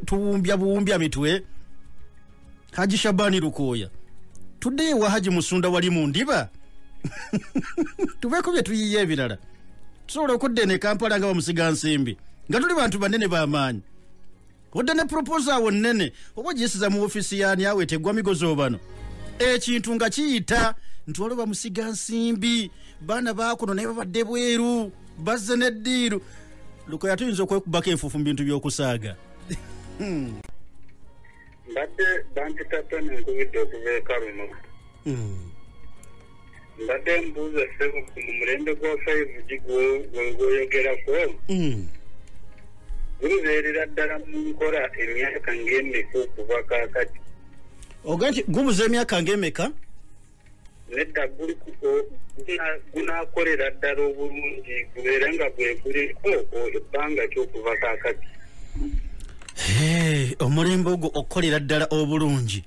tuwumbya buwumbya mitwe haji shabani lukooya tuddeyo ewa haji musunda wali mu ndiba tuveeko bye tuyiye ebirala tusobola okudda eno ekampala nga bamusiga nsimbi nga tuli bantu banene bamaanyi odda ne proposa awo nnene oba ogiyisiza mu ofiisi yaani awo etegwa migozi obano ekintu nga kiyita nti waliwo bamusiga nsimbi baana bakuno naye babadde bweru bazze neddiiru lukoya tuyinza okwekubako enfuufu mu bintu by'okusaaga hmm. mbadde bampitadde nenkubidde okuva eka luno hmm. mbadde mbuuza sebo ku mulembe gwa five g gwegwoyogerako hmm. gubeerera ddala mu nkola emyaka ng'emeka okuva kakati oga nti gubuza emyaka ng'emeka nedda gunakolera ddala obulungi gubeere nga gweguliko ebbanga kyokuva kakati omulembe ogwo okukolera ddala obulungi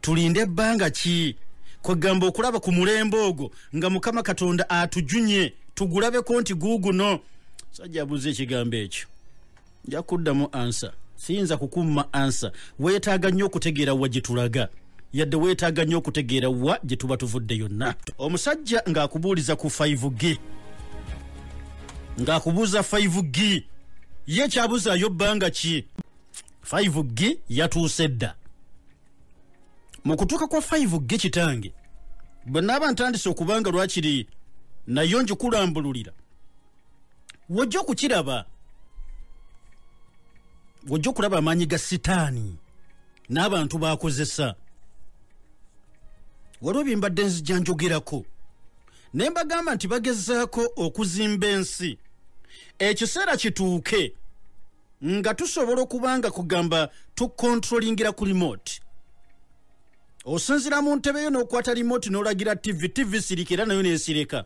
tulinde ebbanga ki kwegamba okulaba ku mulembe ogwo nga mukama katonda atujunye tugulabeko nti guuguno sajja abuuza ekigambo ekyo nja kuddamu ansa siyinza kukumma ansa weetaaga nnyo okutegeera wa gye tulaga yadde weetaaga nnyo okutegeera wa gye tuba tuvudde yonna omusajja ng'akubuuliza ku 5 g ng'akubuuza 5 g ye kyabuzaayo bbanga ki 5 g yatuuse dda mu kutuuka kwa 5 g kitange bwe naaba ntandise okubanga lwakiri nayo njikulambululira wojja okukiraba wojja okulaba amaanyi ga sitaani n'abantu baakozesa waliwo byembadde nzija njogerako ne mbagamba nti bagezaako okuzimba ensi ekiseera kituuke nga tusobola okuba nga kugamba tukontrolingira ku remote osinzira mu ntebe yo n'okwata remote n'olagira tv tv sirika era nayo nesireka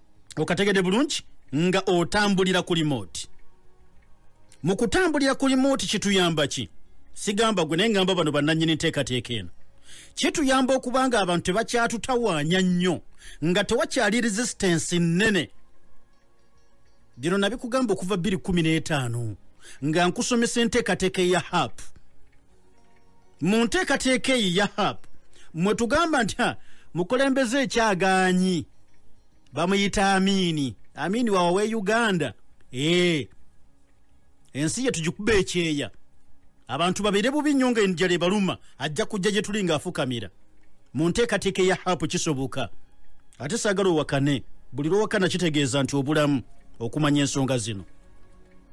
okategede bulungi nga otambulira ku limooti mu kutambulira ku limooti kituyamba ki sigamba gwe naye ngamba bano bannannyini nteekateeka eno kituyamba okuba nga abantu tebakyatutawaanya nnyo nga tewakyali resistance nnene bino nabikugamba okuva 215 nga nkusomesa enteekateeka eya haapu mu nteekateeka eyi ya hap mwe tugamba nti mukulembeze ekyagaanyi bamuyita amiini amiini wawawe uganda ee ensi ye tugikuba ekyeya abantu babeere bubi nnyo nga enjala ebaluma ajja kujja gye tuli ng'afukamira mu nteekateeka eya hap kisoboka ate saagala owakane buli lwowakana kitegeeza nti obulamu okumanya ensonga zino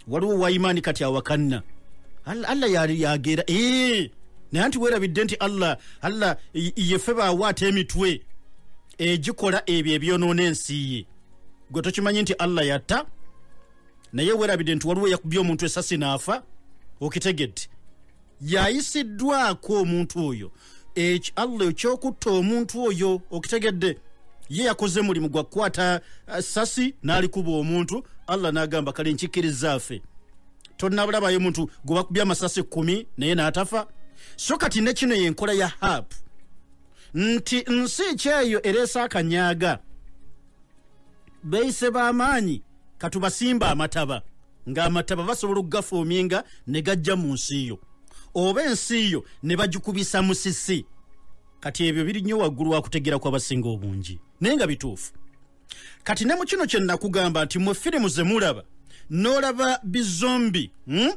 waliwo waimaani kati awakanna allah yageera eh, naye anti werabidde nti allah allah yefe baawo ate emitwe egikola ebyo ebyonoona ensi ye gwe tokimanyi nti allah yatta naye werabidde nti waliwo yakubye omuntu esasi naafa okitegedde yayisiddwako omuntu oyo eki allah ekyokutta omuntu oyo okitegedde ye yakoze mulimu gwa kukwata eh, sasi n'alikuba omuntu allah n'agamba kale nkikkiriza afe tonabulabayo omuntu gwe bakubye amasasi kkumi naye n'atafa so kati ne kino yenkola ya hap nti nsi ekyeyo ereese akanyaga beise b'amaanyi katubasimba amataba ng'amataba basobola okugafuuminga ne gajja mu nsi yo oba ensi yo ne bagikubisa musisi kati ebyo biri nnyo waggulu wakutegeera kwabasinga obungi naye nga bituufu kati ne mu kino kye nakugamba nti mwe firimu ze mulaba n'olaba bizombi hmm?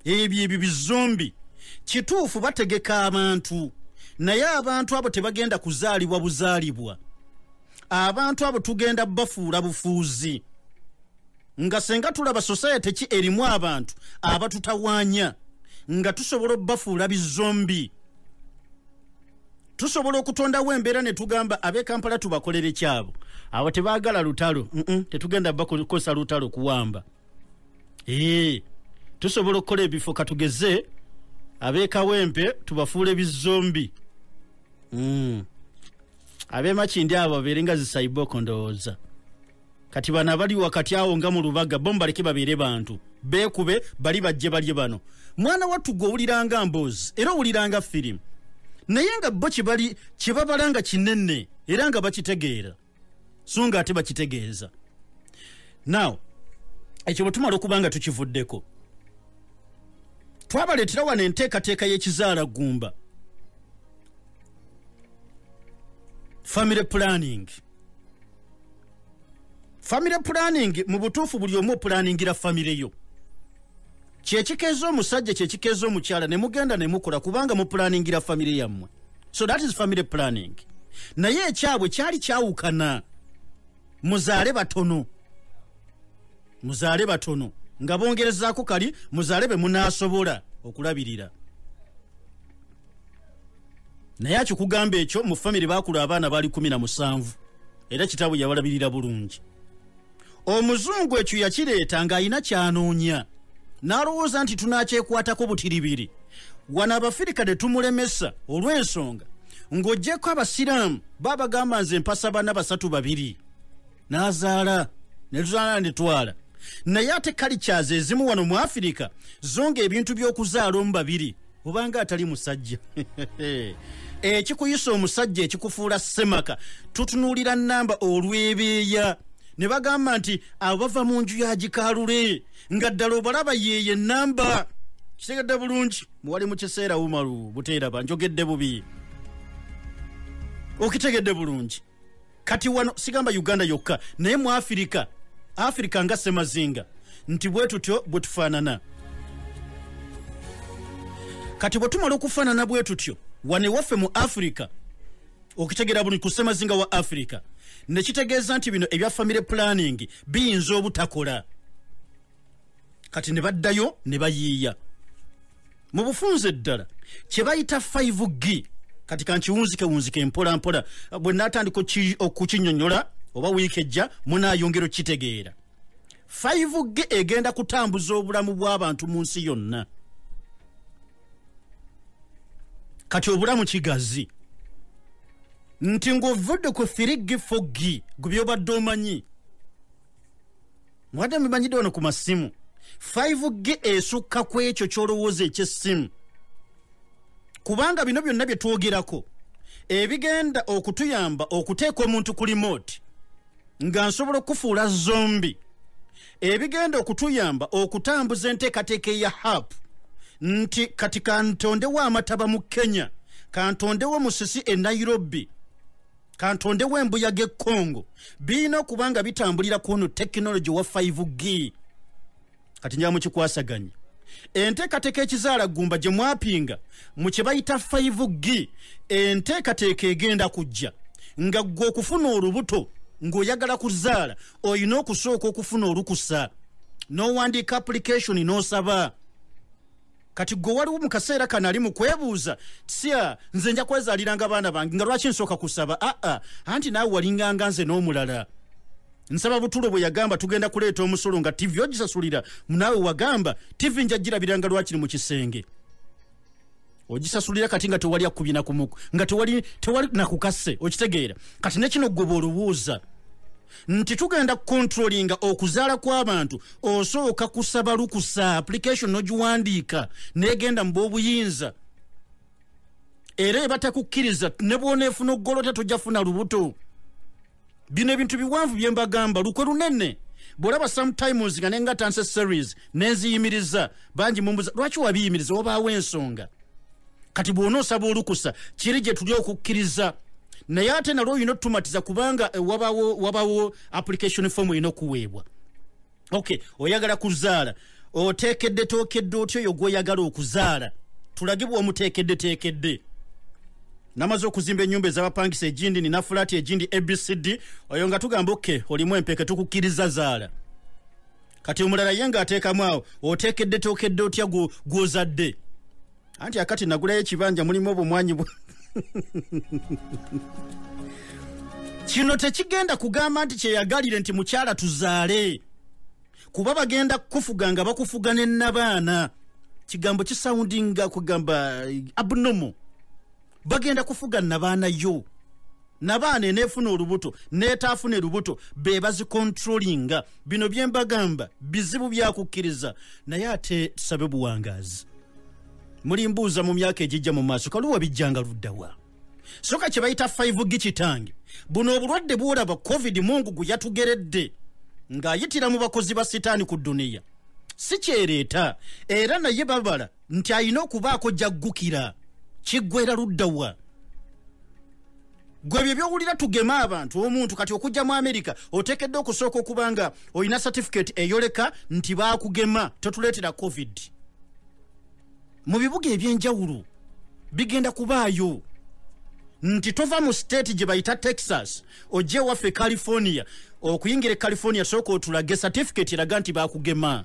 ebyo ebyo bizombi kituufu bategeka abantu naye abantu abo tebagenda kuzaalibwa buzaalibwa abantu abo tugenda bafuula bufuuzi nga senga tulaba society ki erimu abantu abatutawanya nga tusobola obafuula bizombi tusobola okutondawo embeera ne tugamba ab'e kampala tubakolere kyabo abo tebaagala lutalo tetugenda bakozesa lutalo kuwamba ee tusobola okukola ebifo katugeze ab'e kawempe tubafuule bizombi mm. abemakindi abo babeere nga zisaiboko ndowooza kati bano abali wakati awo nga mu lubaga bo mubaleke babeere bantu beekube bali bajje balye bano mwana wattu gwe owuliranga mboozi era owuliranga firimu naye nga bo kyebali kyebabala nga kinene era nga bakitegeera so nga ate bakitegeeza now ekyo bwe tumala okuba nga tukivuddeko twabaleetera wano enteekateeka y'ekizaala ggumba family planning family planning mu butuufu buli omu opulaningira family yo kyekikeeza omusajja kyekikeeza omukyala ne mugenda ne mukola kubanga mupulaningira family yammwe so that is family planning naye ekyabwe kyali kyawukana muzaale batono muzaale batono nga bongerezaako kali muzaale be munaasobola okulabirira naye akikugamba ekyo mu famire bakula abaana bali kumi na musanvu era kitaabwe yabalabirira bulungi omuzungu ekyo yakireeta ng'alina kyanoonya n'alowooza nti tunakyekwatako butiribiri wano abafirika ne tumulemesa olw'ensonga ng'ogyeko abasiraamu babagamba nze mpasa bana basatu babiri n'azaala ne tuzaala ne twala naye ate kalikyazi ezimu wano mu afirika zo ng'ebintu by'okuzaala omu babiri obanga atali musajja ekikuyisa omusajja ekikufuula semaka tutunuulira namba olwebeeya ne bagamba nti abo bava mu nju ya gikaalule nga ddala obalaba yeeyo enamba kitegedde bulungi muwali mu kiseera umaru buteeraba njogedde bubi okitegedde bulungi kati wano sigamba uganda yokka naye mu afirika afirika nga semazinga nti bwe tutyo bwe tufaanana kati bwe tumala okufaanana bwe tutyo wano ewaffe mu afirika okitegeera buli ku semazinga wa afirika ne kitegeeza nti bino ebya famire pulaningi biyinza obutakola kati ne baddayo ne bayiiya mu bufunze eddala kye bayita 5 g kati kankiwunzikewunzike mpola mpola bwe natandika okukinyonyola oba wiiki ejja munayongera okukitegeera 5 g egenda kutambuza obulamu bw'abantu mu nsi yonna kati obulamu kigazi nti ng'ovudde ku firiggi foggi gwe byobadde omanyi mwadde mumanyidde wano ku masimu 5g esukka ku ekyo kyolowooza ekyessimu kubanga bino byonna bye twogerako ebigenda okutuyamba okuteeka omuntu ku limooti nga nsobola okufuula zombi ebigenda okutuyamba okutambuza enteekateeka eya hap nti kati kantondewo amataba mu kenya kantondewo musisi e nairobi kantondewo embuyaga ekongo birina okuba nga bitambulira ku ono tekinologi wa 5g kati njaba mukikwasaganya enteekateeka ekizaala gumba gye mwapinga mu kye bayita 5g enteekateeka egenda kujja nga ggwe okufuna olubuto ng'oyagala kuzaala olina okusooka okufuna olukusa n'owandiika application n'osaba no kati gwe waliwo mu kaseera kano ali mu kwebuuza tya nze nja kwezaaliranga abaana bange nga lwaki nsooka kusaba aa ah, ah. anti naawe walinganga nze n'omulala nsaba butulo bwe yagamba tugenda kuleeta omusolo nga tivi ogisasulira naawe wagamba tivi nja girabiranga lwakiri mu kisenge ogisasulira kati nga tewali akubina kumuku nga tewali nakukase okitegeera kati nekino gwe bwolowooza nti tugenda kukontrolinga okuzaala kw'abantu osooka kusaba lukusa application nogiwandiika negenda mu b'obuyinza era ebatakukkiriza ne bwoneefuna okugolota tojafuna lubuto bino ebintu biwanvu bye mbagamba lukwe lunene bwolaba sometimes nga nengatanse series nenziyimiriza bangi mumbuza lwaki wabiyimiriza wabaawo ensonga kati bwona osaba olukusa kiri gye tuli okukkiriza naye ate nalwo olina otutumatiza kubanga eh, wabawo wabawo application form olina okuweebwa ok oyagala kuzaala oteekedde tookedde otya oyo gwoyagala okuzaala tulagibwa omuteekedde teekedde namaze okuzimba enyumba ezabapangisa egindi nina fulaati egindi abcd oyo nga tugamba ok olimu empeke tukukkiriza zaala kati omulala ye nga ateekamu awo oteekedde tookedde otya gwozadde anti akati nagulayo ekibanja mulimu obumwanyi bwa kino tekigenda kugamba nti kyeyagalire nti mukyala tuzaale kuba bagenda kukufuga nga bakufuga ne nabaana kigambo kisawundinga kugamba eh, abnomo bagenda kufuga nabaana yo nabaana enefuna olubuto netaafune lubuto be bazikontrolinga bino byembagamba bizibu byakukkiriza naye ate tusabe buwangaazi muli mbuuza mu myaka egijja mu maaso kaluwa bijjanga luddawa soka kye bayita 5 gi kitange buno obulwadde bwolaba covid mungu gwe yatugeredde ng'ayitira mu bakozi ba sitaani ku duniya si kyereeta era naye babala nti alina okubaako gyaggukira kiggwera ludda wa gwe bye byowulira tugeme abantu omuntu kati okujja mu amerika otekedde okusooka okuba nga olina certificate eyoleka nti baakugema totuleetera covid mu bibuga ebyenjawulo bigenda kubaayo nti tova mu state gye bayita texas ojja ewaffe e california okuyingira e california sooka otulage certificate eraga nti baakugema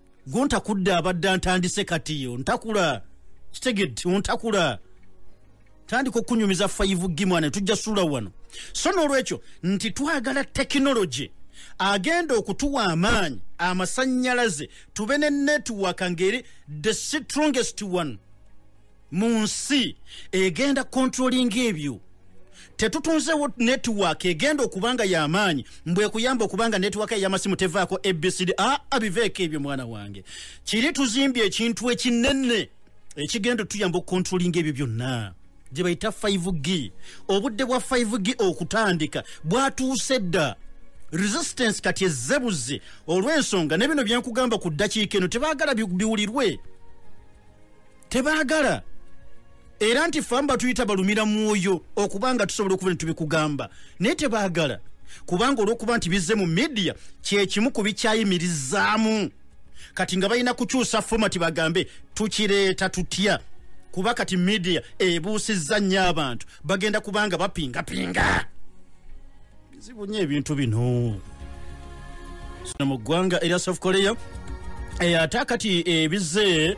gontakudde abadde antandise kati yo ntakula kitegedde ontakula tandika okunyumiza faivu gi mwana tujja suula wano so n'olwekyo nti twagala tekinologi agenda okutuwa amaanyi amasannyalaze tube ne netiwaka ngeri the strongest one mu nsi egenda kontrolinga ebyo tetutunzewo netiwaaka egenda okubanga yamaanyi mbwekuyamba okubanga netiwaaka eyamasimu tevaako abcd a abiveeko ebyo mwana wange kiri tuzimbye ekintu ekinene ekigenda tuyamba okukontrolinga ebyo byonna gye bayita 5g obudde bwa 5g okutandika bwatuuse dda resistance kati ezzebuze olw'ensonga ne bino byenkugamba ku ddakiika eno tebaagala biwulirwe bi tebaagala era nti ffe batuyita balumira mwoyo okuba nga tusobola okuba netubikugamba naye tebaagala kubanga olwokuba nti bizze mu midiya kyekimu ku bikyayimirizaamu kati nga balina kukyusa fomati bagambe tukireeta tutya kuba kati midiya ebuusizza nnyo abantu bagenda kubanga bapingapinga bizibu nnyo ebintu bino zino mu ggwanga erya south korea eh, ate akati ebize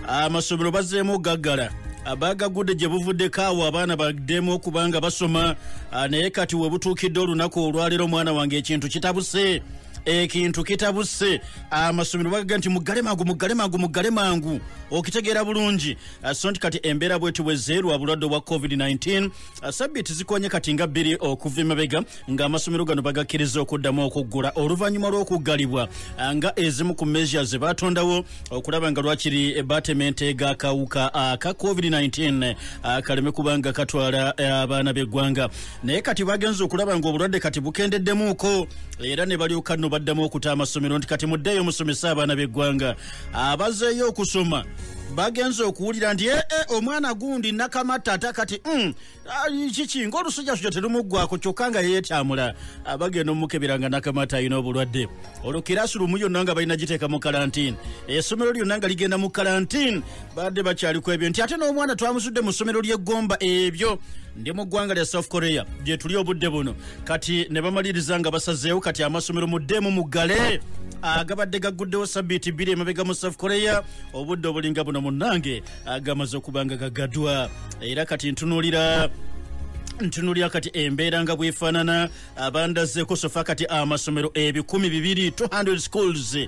amasomero bazeemu okugaggala abagagudde gye buvuddeko awo abaana baddemu okubanga basoma ah, naye kati we butuukidde olunaku olwaleero omwana wange ekintu kitabuse ekintu kitabuse amasomero bagaga nti mugale mangu mugale mangu mugale mangu okitegeera bulungi ah, so nti kati embeera bweti bwezeerwa bulwadde obwa covid-19 Uh, sabbiiti zikonye kati nga bbiri okuva emabega ng'amasomero gano bagakkiriza okuddamu okuggula oluvannyuma lw'okuggalibwa uh, nga ezimu ku measure ze baatondawo okulaba nga lwakiri batemente g'akawuka aka uh, covid-19 kaleme kubanga katwala abaana b'eggwanga naye kati bagenza okulaba ng'obulwadde kati bukendeddemuuko era ne balyoka nno baddamu okuta amasomero nti kati muddeeyo musomese abaana b'eggwanga abazeeyo okusoma bagenze okuwulira nti ee eh, eh, omwana gundi nakamatta ate kati mm, ah, kiki ngaolusujasuja terumuggwako kyokka nga yeyetyamula ah, bagenda omukebera nga nakamatta alina obulwadde olwo kirasi lumu yonna nga balina giteeka mu kalantini essomero lyonna nga ligenda mu kalantini badde bakyaliko ebyo nti ate n'omwana twamuzudde mu ssomero ly'eggomba ebyo ndi mu ggwanga lya south korea gyetuli obudde buno kati ne bamaliriza nga basazeewo kati amasomero muddeemu muggale agabadde gagguddewo sabiiti bbiri emabega mu south korea obudde obulinga buno munnange agamaze okuba nga gagadwa era kati ntunuulira ntunuulira kati embeera nga bwefaanana abandazze kusofa kati amasomero ebikumi bibiri 200 schools eh,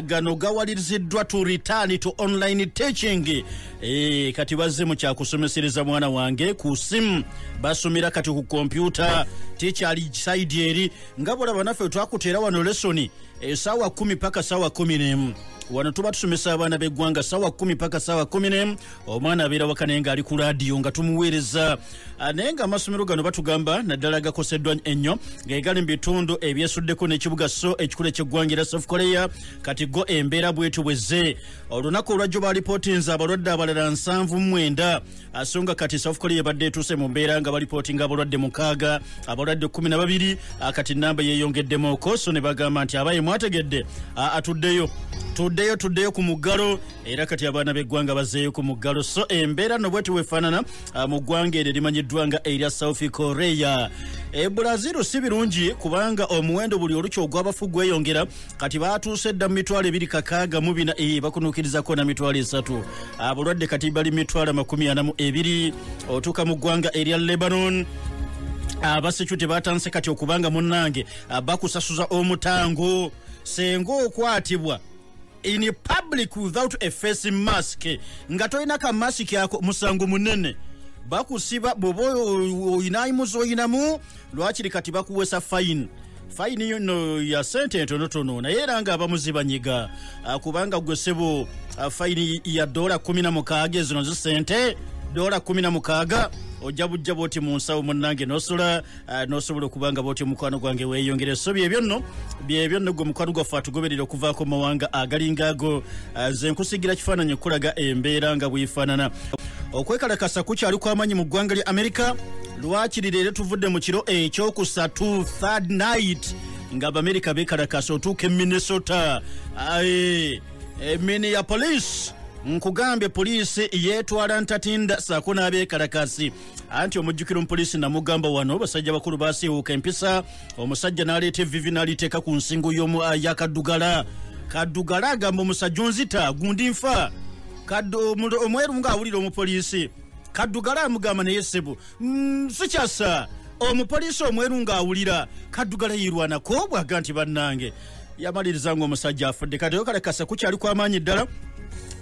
gano gawaliriziddwa to return to online teaching e, kati bazze mu kyakusomesereza mwana wange ku simu basomera kati ku kompyuta tekyali saidi eri nga bolaba naffe twakuteera wano lesoni esaawa eh, kumi paka saawa kumi nemu wano tuba tusomesa abaana b'eggwanga saawa kumi paka saawa kumi nemu omwana abeera waka naye ngaali ku laadiyo nga tumuweereza ah, naye nga amasomero gano batugamba naddala gakoseddwa ennyo ngaegali mu bitundu ebyesuddeko n'ekibuga so ekikulu ekyeggwanga era south korea kati go embeera bwetyo bwezze olunaku olwajjo balipootinze abalwadde abalala nsanvu mwenda ah, so nga kati south korea ebadde etuuse mu mbeera nga balipootinga abalwadde mukaaga abalwadde kumi na babiri ah, kati namba yeeyongeddemuko so ne bagamba nti abaye mwategedde atuddeyo tuddeyo tuddeyo ku muggalo era kati abaana b'eggwanga bazeeyo ku muggalo so embeera no bweti wefaanana ah, mu ggwanga eryo erimanyiddwa nga erya south korea e brazil si birungi kubanga omuwendo buli olukya ogw'abafu gweyongera kati baatuuse dda mu mitwalo ebiri kakaaga mu bina e bakunuukirizako na mitwalo esatu abalwadde ah, kati bali mitwalo amakumi ana mu ebiri otuuka mu ggwanga erya lebanon abasecurity ah, batandise kati okubanga munnange bakusasuza omutango senga okwatibwa in public without a face mask nga tolina ka mask ako musango munene bakusiba bwoba oyinayimuzi oyinamu lwakiri kati bakuwesa fayini fayini yono ya sente entonotono naye era nga abamuzi banyiga ah, kubanga gwe sebo ah, fayini ya dola 16 ezino zi sente dola 16 ojja bujja bwoti mu nsawo munange nosula Ah, nosobola okuba nga bwotyo mukwano gwange weyongere so byebyo nno byebyo nno gwe mukwano gwaffe atugoberera okuvaako mu mawanga agalinga ago ah, nze nkusigira kifaananyi okukulaga embeera nga bwefaanana okwekalakasa kukyali kwamaanyi mu ggwanga lya amerika lwakiri leero tuvudde mu kiro ekyokusatu third night nga abamerika bekalakasa otuuka e minnesota emini ya poliisi nkugambye poliisi yeetwala ntatinda saako n'abekalakasi anti omujjukiro mupoliisi namugamba wano basajja bakulu basiiwuuka empisa omusajja n'aleeta evivi n'aliteeka ku nsingo y'omu ah, ya kaddugala kaddugala agamba omusajja onzita gundi nfa omweru ng'awulira omupoliisi kaddugala amugamba naye ssebo mm, sikyasa omupoliisi omweru ng'awulira kaddugala yirwanako bwaga nti bannange yamaliriza ngaomusajja afudde kati oyokalekase kukyali kwamaanyi ddala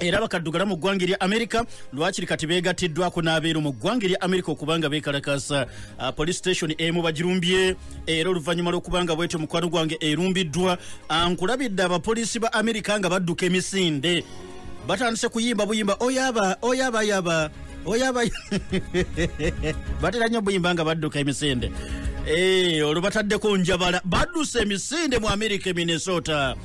era bakaddugala mu ggwanga erya amerika lwakiri kati beegattiddwako n'abeeru mu ggwanga erya amerika okubanga beekalakasa ah, police station emu bagirumbye era oluvannyuma lw'okubanga bwetyo mukwano gwange erumbiddwa ankulabidde ah, abapoliisi ba amerika nga badduka emisinde batandise kuyimba buyimba oyaba oyaba yaba oyaba batera nnyo buyimba nga badduka emisinde Eh, olwo bataddeko njabala badduse emisinde mu amerika e minnesota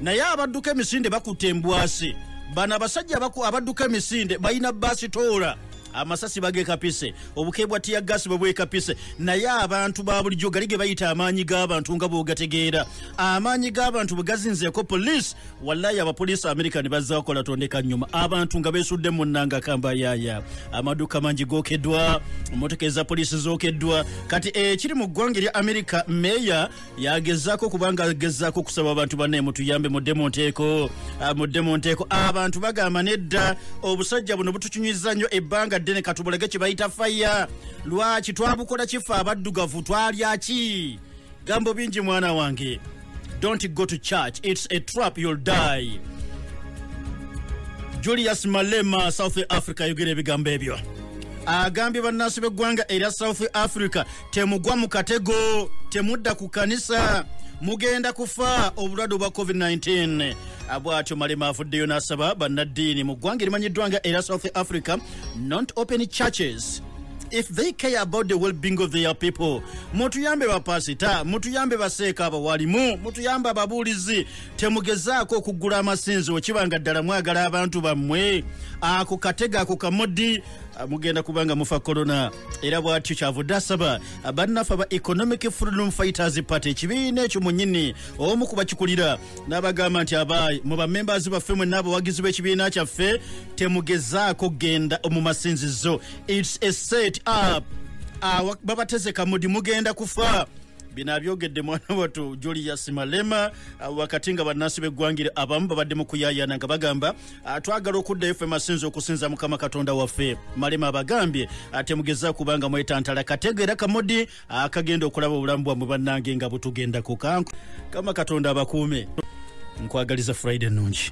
naye abadduka emisinde bakutte embwasi bano abasajja abaku- abadduka emisinde balina basitoola amasasi bagekapise obuke bwa tiya gasi bwe bwekapise naye abantu ba bulijjo gali ge bayita amaanyi g'abantu nga bw'ogategeera amaanyi g'abantu bwe gazinzeeko poliisi wallayi abapoliisi american bazze bakola tondeka nyuma abantu nga besudde munanga kamba yaya amaduuka mangi gokeddwa motoka eza poliisi zokeddwa kati ekiri eh, mu ggwanga erya america meeya yagezaako kubanga agezaako okusaba abantu bane mutuyambe mudde mu nteeko ah, mudde mu nteeko abantu bagamba nedda obusajja buno butukinywiza nnyo ebbanga ddene katubulage kye bayita faya lwaki twabukola kifa abaddugavu twalyaki gambo bingi mwana wange don't go to church it's a trap you'll die julius malema south africa yogera ebigambo ebyo agambye bannansi b'eggwanga erya south africa temugwa mu katego temudda ku kanisa mugenda kufa obulwadde obwa covid-19 bwatyo malema avuddeyo n'asaba bannaddiini mu ggwanga erimanyiddwa nga era south africa not open churches if they care about the well-being of their people mutuyambe bapasita mutuyambe baseeka abawalimu mutuyambe ababuulizi temugezaako okuggula amasinzi okiba nga ddala mwagala abantu bammwe ako katega ako kamodi ah, mugenda kubanga mufa corona era bwatyo kyavudde asaba bannaffe aba economic freedom fighters party ekibiina ekyo munyini omu kubakikulira n'abagamba nti abaayi mu bamembazi baffe mwe n'abawagizi b'ekibiina kyaffe temugezaako kugenda mu masinzizo its a set up babatezeka mudi mugenda kufa bino abyogedde mwana watu julius malema uh, wakati nga bannansi b'eggwangire abamu babadde mu kuyayana nga bagamba uh, twagala okuddayo ffe masinza okusinza mukama katonda waffe malema abagambye uh, temugeza kubanga mwetantala kategeera kamodi akagenda okulaba obulamu bwammwe bannange nga butugendako kanku kama katonda abakuume nkwagaliza friday ennungi